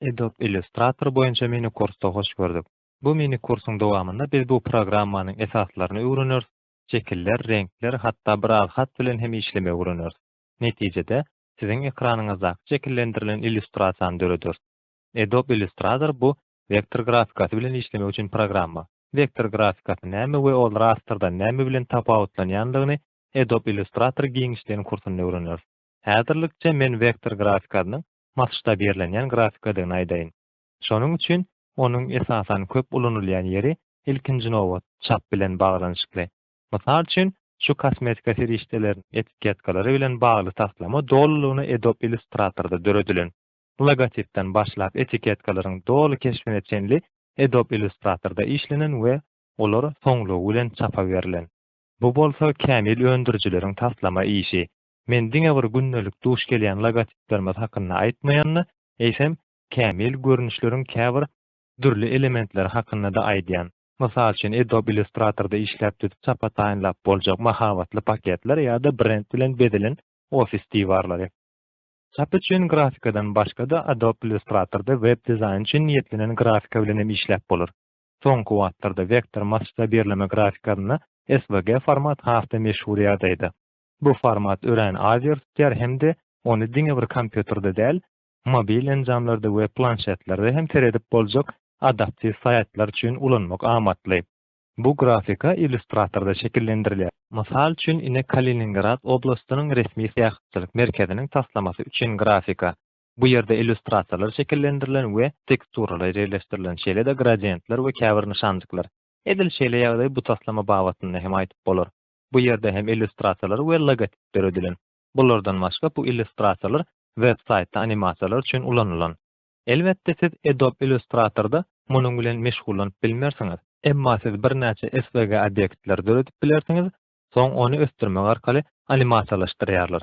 Adobe Illustrator boýunça mini kursda hoş gördük. Bu mini kursuň dowamynda biz bu programmanyň esaslaryny öwreneris, şekiller, reňkler, hatda bir az hat bilen hem işlemegi öwreneris. Netijede, siziň ekranyňyzdaky şekillendirilen illýustrasiýany dörederis. Adobe Illustrator bu wektor grafikasy bilen işlemek üçin programma. Wektor grafikasy näme we ol rastrdan näme bilen tapawutlanýandygyny Adobe Illustrator giňişleýin kursunda öwreneris. Häzirlikçe men wektor grafikasynyň masştabirlenýän grafikadygyny aýdaýyn. Şonuň üçin onuň esasan köp ulanylýan ýeri ilkinji nobat çap bilen baglanyşykly. Mysal üçin, şu kosmetika serişdeleriniň etiketkalary bilen bagly taslama dolulygyna Adobe Illustrator-da döredilen. Logotipden başlap etiketkalaryň doly keşbine çenli Adobe Illustrator-da işlenen we olar soňlugy bilen çapa berlen. Bu bolsa kämil öndürijileriň taslama işi. Men diňe bir gündelik duş gelýän logotiplerimiz hakynda aýtmaýan-da, eýsem, kämil görnüşleriň käbir dürli elementleri hakynda-da aýdýan. Mysal üçin, Adobe Illustrator-da işläp düzüp çapa taýynlap boljak mahabatly paketler ýa-da brend bilen bezelen ofis diwarlary. Çap üçin grafikadan başga-da Adobe Illustrator-da web-dizaýn üçin niýetlenen grafika bilen hem işläp bolar. Soňky wagtlarda wektor massda birleme grafikasynda SVG format has-da meşhur ýagdaýda. Bu format örän az ýer tutýar hem-de ony diňe bir kompýuterde däl, mobil enjamlarda we planşetlerde hem seredip boljak adaptiw saýtlar üçin ulanmak amatly. Bu grafika Illustrator-da şekillendirilýär. Mysal üçin, ine Kaliningrad oblastynyň resmi syýahatçylyk merkeziniň taslamasy üçin grafika. Bu ýerde illýustrasiýalar şekillendirilen we teksturalar ýerleşdirilen, şeýle-de gradiýentler we käbir nyşanjyklar. Edil şeýle ýagdaý bu taslama babatynda hem aýdyp bolar. Bu ýerde hem illýustrasiýalar we logotip döredilen. Bulardan başga bu illýustrasiýalar web-saýtda animasiýalar üçin ulanylan. Elbetde siz Adobe Illustrator-da munuň bilen meşgullanyp bilmersiňiz. Emma siz birnäçe SVG obýektleri döredip bilersiňiz, soň ony ösdürmek arkaly animasiýalaşdyrýarlar.